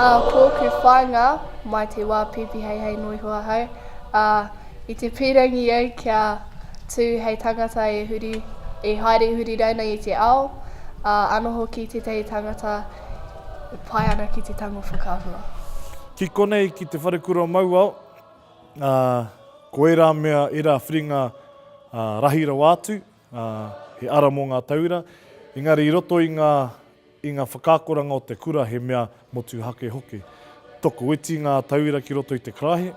Ā, kōku whāinga mai te wā pīpiheihei nō iho ahau, ā, i te pīrangi au kia tū hei tangata e huri, e haere huri rānei i te ao, ā, anō hoki tētahi tangata e pai ana ki te tango whakaahua. Ki konei, ki te wharekura mauao, ā, ko ērā mea, ērā whiringa, ā, rahi rawa atu, ā, he ara mō ngā tauira, engari i roto i ngā, i ngā whakaakoranga o te kura he mea motuhake hoki. Tokoiti ngā tauira ki roto i te karaehe,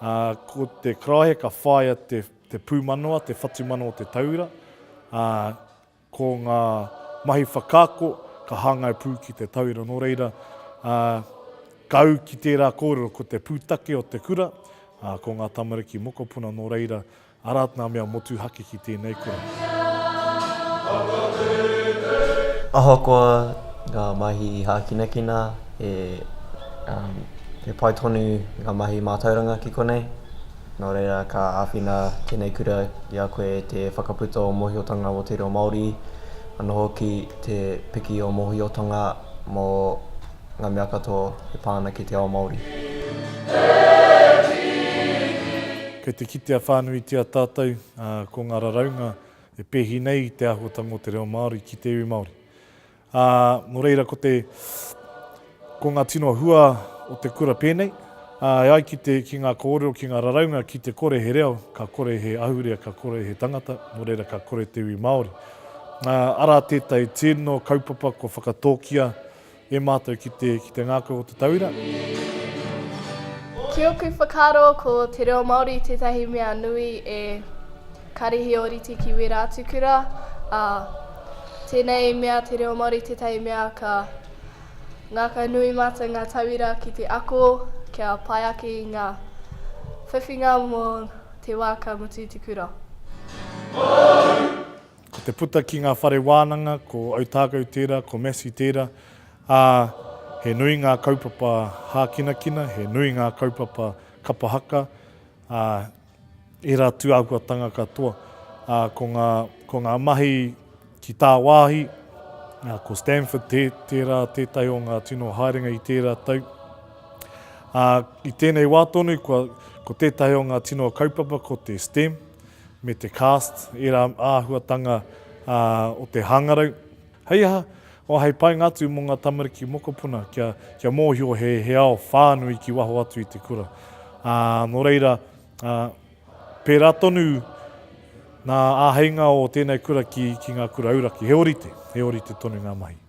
ā, ko te karaehe ka whāia te, te pūmanawa, te whatumanawa o te tauira, ā, ko ngā mahi whakaako ka hāngai pū ki te tauira. Nō reira, ā, ka ū ki tērā kōrero, ko te pūtake o te kura, ā, ko ngā tamariki mokopuna, nō reira, Arā ngā mea motuhake ki tēnei kura. Ahakoa ngā mahi hākinakina, he pai tonu ngā mahi mātauranga ki konei, nō reira ka āwhina tēnei kura i a koe te whakaputa o mōhiotanga mō te reo Māori, anō hoki te piki o mōhiotanga mō ngā mea katoa e pā ana ki te ao Māori. Kei te kitea whānuitia tātou ko ngā raraunga e pēhi nei i te āhuatanga o te reo Māori ki te iwi Māori. Ā, nō reira ko te, ko ngā tino hua o te kura pēnei, ā, e ai ki te, ki ngā kōrero, ki ngā raraunga, ki te kore he reo, ka kore he ahurea, ka kore he tangata, nō reira ka kore te iwi Māori. Ā, arā tētahi tino kaupapa kua whakatōkia E mātou ki te, ki te ngākau o te tauira. Ki ōku whakaaro ko te reo Māori tētahi mea nui e karihi ōrite ki wērā atu kura, ā, tēnei mea te reo Māori tētahi mea ka ngākau nui mātou ngā tauira ki te ako kia pai ake i ngā whiwhinga mō te wā ka mutu te kura. Ko te puta ki ngā whare wānanga, ko Ōtākou tērā, ko Massey tērā, ā, he nui ngā kaupapa hākinakina, he nui ngā kaupapa kapa haka, ā, ērā tūāhuatanga katoa. Ā, ko ngā, ko ngā mahi ki tāwāhi, ā, ko Stanford tē, tērā tētahi o ngā tino haerenga i tērā tau. Ā, i tēnei wā tonu, ko, ko tētahi o ngā tino kaupapa ko te STEM, me te cast, ērā āhuatanga o te hāngarau. Hei aha? O, hei painga atu mō ngā tamariki mokopuna kia, kia mōhio he, he ao whānui ki waho atu i te kura. Ā, nō reira, ā, pērā tonu ngā āheinga o tēnei kura ki, ki ngā kura auraki. He ōrite, he ōrite tonu ngā mahi.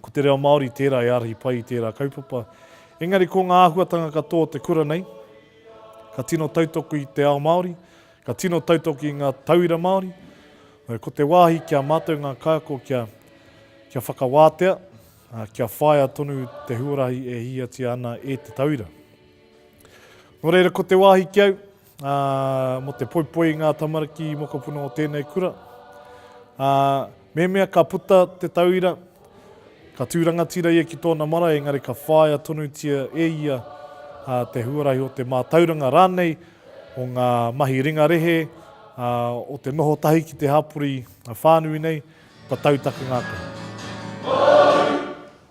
Ko te reo Māori tērā e ārahi pai i tērā kaupapa. Engari ko ngā āhuatanga katoa o te kura nei, ka tino tautoko i te ao Māori, ka tino tautoko i ngā tauira Māori, ko te wāhi ki a mātou ngā kaiako kia, kia whakawātea, kia whāia tonu te huarahi e hiahiatia ana e te tauira. Nō reira, ko te wāhi ki au, Ā, mō te poipoi i ngā tamariki mokopuna o tēnei kura, ā, mēmea ka puta te tauira, ka tū rangatira ia ki tōna marae, engari ka whāia tonutia e ia te huarahi o te mātauranga rānei, o ngā mahi ringa rehe, ā, o te noho tahi ki te hapori whānui nei, kua tautaka ngā kaha.